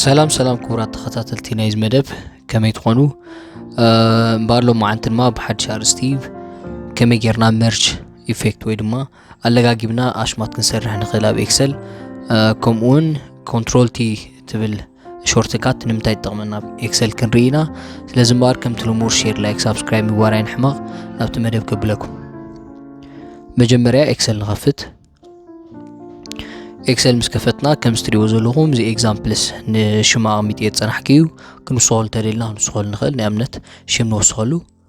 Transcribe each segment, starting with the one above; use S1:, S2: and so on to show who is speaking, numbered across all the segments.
S1: ሰላም ሰላም ክቡራት ተኸታተልቲ ናይዚ መደብ ከመይ ትኾኑ እምበኣር ሎም መዓንቲ ድማ ብሓድሽ ኣርስቲ ከመይ ጌርና መርች ኢፌክት ወይ ድማ ኣለጋጊብና ኣሽማት ክንሰርሕ ንኽእል ኣብ ኤክሰል ከምኡውን ኮንትሮል ቲ ትብል ሾርት ካት ንምንታይ ትጠቕመና ኣብ ኤክሰል ክንርኢ ኢና ስለዚ እምበኣር ከምቲ ልሙር ሼር ላይክ ሳብስክራይብ ምግባር ኣይንሕመቕ ናብቲ መደብ ከብለኩም መጀመርያ ኤክሰል ንኸፍት ኤክሰል ምስ ከፈትና ከም ስትሪዎ ዘለኹም እዚ ኤግዛምፕልስ ንሽማ ኣቕሚጥ እየ ዝፀናሕኪ እዩ ክንወስኸሉ ተደልና ክንወስኸሉ ንኽእል ንኣብነት ሽም ንወስኸሉ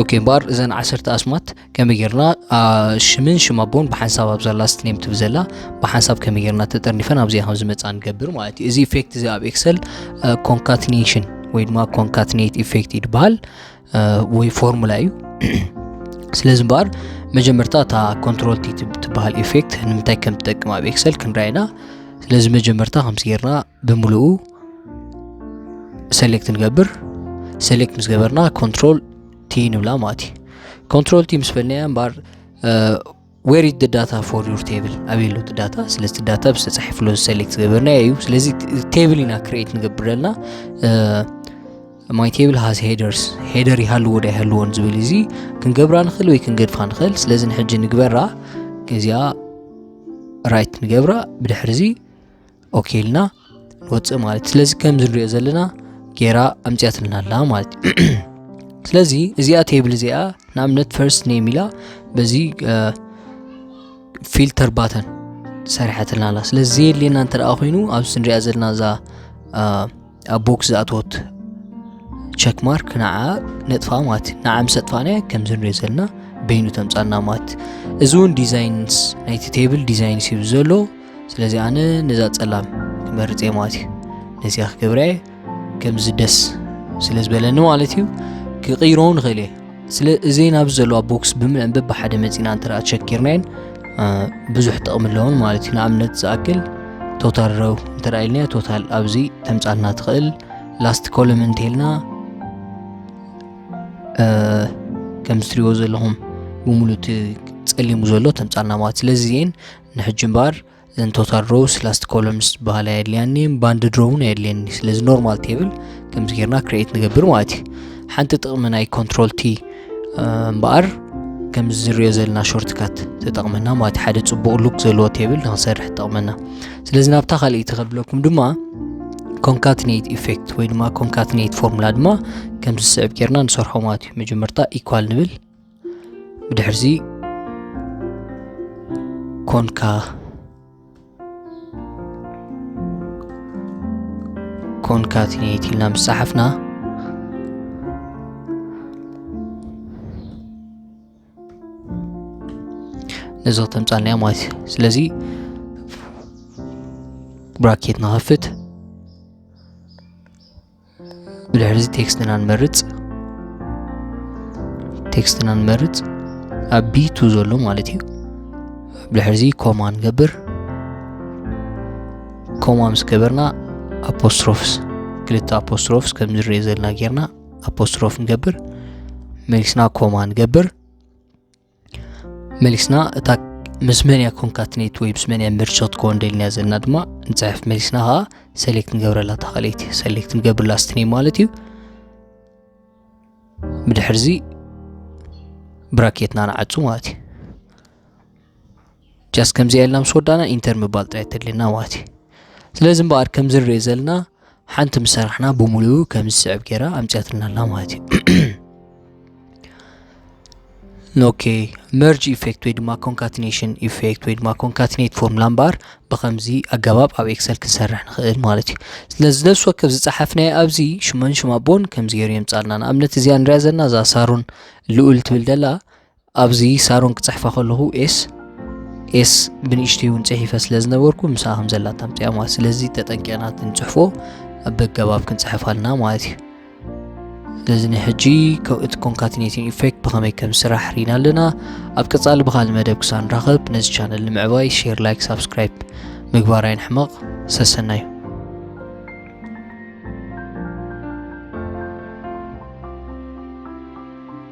S1: ኦኬ እምበኣር እዘን ዓሰርተ ኣስማት ከመይ ጌርና ሽምን ሽም ኣቦን ብሓንሳብ ኣብ ዘላ ስትኔም ትብ ዘላ ብሓንሳብ ከመይ ጌርና ተጠርኒፈን ኣብዚኣ ከም ዝመፃ ንገብር ማለት እዩ እዚ ኢፌክት እዚ ኣብ ኤክሰል ኮንካትኔሽን ወይ ድማ ኮንካትኔት ኢፌክት ይድበሃል ወይ ፎርሙላ እዩ ስለዚ እምበኣር መጀመርታ እታ ኮንትሮል ቲ ትበሃል ኤፌክት ንምንታይ ከም ትጠቅም ኣብ ኤክሰል ክንርኣይና ስለዚ መጀመርታ ከምዚ ጌርና ብምልኡ ሰሌክት ንገብር ሰሌክት ምስ ገበርና ኮንትሮል ቲ ንብላ ማለት እዩ ኮንትሮል ቲ ምስ በልናያ እምበኣር where is the data for your table ኣበይ ኣሎ እቲ ዳታ ስለዚ እቲ ዳታ ብስ ተፃሒፍሎ ሰሌክት ዝገበርናዮ እዩ ስለዚ ቴብል ኢና ክሬት ንገብር ዘለና ማይ ቴብል ሃዝ ሄደርስ ሄደር ይሃልዎ ዶ ይሃልዎን ዝብል እዚ ክንገብራ ንኽእል ወይ ክንገድፋ ንኽእል ስለዚ ንሕጂ ንግበራ እዚኣ ራይት ንገብራ ብድሕሪ እዚ ኦኬ ኢልና ንወፅእ ማለት ስለዚ ከምዚ ንሪኦ ዘለና ጌራ ኣምፅያትልና ኣላ ማለት እዩ ስለዚ እዚኣ ቴብል እዚኣ ንኣብነት ፈርስት ኔም ኢላ በዚ ፊልተር ባተን ሰሪሐትልና ኣላ ስለዚ ዘየድልየና እንተ ደኣ ኮይኑ ኣብዚ ንሪኣ ዘለና እዛ ኣብ ቦክስ ዝኣትወት ቸክ ማርክ ንዓ ነጥፋ ማለት ንዓ ምስ ኣጥፋናያ ከምዚ ንሪኦ ዘለና በይኑ ተምፃና ማለት እዚ እውን ዲዛይንስ ናይቲ ቴብል ዲዛይንስ እዩ ዘሎ ስለዚ ኣነ ነዛ ፀላም ክመርፅ እየ ማለት እዩ ነዚኣ ክገብረ እየ ከምዚ ደስ ስለ ዝበለኒ ማለት እዩ ክቕይሮ ንኽእል እየ ስለ እዘን ኣብዚ ዘለዋ ቦክስ ብምዕንበብ ብሓደ መፂና እንተ ቸኪርናየን ብዙሕ ጥቕሚ ኣለዎን ማለት እዩ ንኣብነት ዝኣክል ቶታል ረው እንተ ኢልና ቶታል ኣብዚ ተምፃልና ትኽእል ላስት ኮለም እንተልና ከም ዝትሪዎ ዘለኹም ብምሉእ እቲ ፀሊሙ ዘሎ ተምፃልና ማለት ስለዚ እዚአን ንሕጂ እምበኣር ዘን ቶታል ሮውስ ላስት ኮለምስ ዝበሃላ የድልያኒ ባንድ ድሮ እውን የድልየኒ ስለዚ ኖርማል ቴብል ከምዚ ጌርና ክሬት ንገብር ማለት እዩ ሓንቲ ጥቕሚ ናይ ኮንትሮል ቲ እምበኣር ከምዚ ዝሪዮ ዘለና ሾርትካት ተጠቕመና ማለት ሓደ ፅቡቕ ሉክ ዘለዎ ቴብል ንክሰርሕ ትጠቕመና ስለዚ ናብታ ካልእቲ ከብለኩም ድማ ኮንካትኔት ኢፌክት ወይ ድማ ኮንካትኔት ፎርሙላ ድማ ከምዚ ዝስዕብ ጌርና ንሰርሖ ማለት እዩ መጀመርታ ኢኳል ንብል ብድሕርዚ ኮንካ ኮንካቲኔት ኢልና ምስ ጸሓፍና ነዚ ክተምጻልና እያ ማለት እዩ ስለዚ ብራኬት ንኸፍት ብድሕርዚ ቴክስትና ንመርጽ ቴክስትና ንመርጽ ኣብ ቢቱ ዘሎ ማለት እዩ ብድሕርዚ ኮማ ንገብር ኮማ ምስ ገበርና ኣፖስትሮፍስ ክልተ ኣፖስትሮፍስ ከም ዝርአ ዘለና ጌርና ኣፖስትሮፍ ንገብር መሊስና ኮማ ንገብር መሊስና እታ ምስ መን እያ ኮንካትኔት ወይ ምስ መን እያ ምርቸት ክኾን ደልና ዘለና ድማ ንፅሕፍ መሊስና ከዓ ሰሌክት ንገብረላ እታ ካልኣይቲ ሰሌክት ንገብርላ ስትኔ ማለት እዩ ብድሕርዚ ብራኬትና ንዓፁ ማለት እዩ ጃስ ከምዚኣ ኢልና ምስ ወዳእና ኢንተር ምባል ጥራይ ተድልና ማለት እዩ ስለዚ እምበኣር ከምዚ ንሪኦ ዘለና ሓንቲ ምስ ሰራሕና ብምሉኡ ከም ዝስዕብ ገይራ ኣምፅያትና ኣላ ማለት እዩ ኦኬ መርጅ ኢፌክት ወይ ድማ ኮንካትኔሽን ኢፌክት ወይ ድማ ኮንካትኔት ፎርሙላ እምበኣር ብከምዚ ኣገባብ ኣብ ኤክሰል ክንሰርሕ ንኽእል ማለት እዩ ስለዚ ነብሲ ወከፍ ዝፀሓፍናዮ ኣብዚ ሽመን ሽማቦን ከምዚ ገይሩ የምፃልና ንኣብነት እዚኣ ንሪያ ዘለና እዛ ሳሮን ልኡል ትብል ደላ ኣብዚ ሳሮን ክጽሕፋ ከለኹ ኤስ ኤስ ብንእሽተይ እውን ጽሒፈ ስለ ዝነበርኩ ምስኣ ከም ዘላ ታምፅያ ማለት ስለዚ ተጠንቂቕና ክንጽሕፎ ኣብ ኣገባብ ክንጽሕፍ ኣለና ማለት እዩ ስለዚ ንሕጂ እቲ ኮንካትኔቲን ኢፌክት ብኸመይ ከም ስራሕ ርኢና ኣለና ኣብ ቀጻሊ ብካል መደብ ክሳብ ንራኸብ ነዚ ቻነል ንምዕባይ ሼር ላይክ ሳብስክራይብ ምግባር ኣይንሕመቕ ሰሰናዩ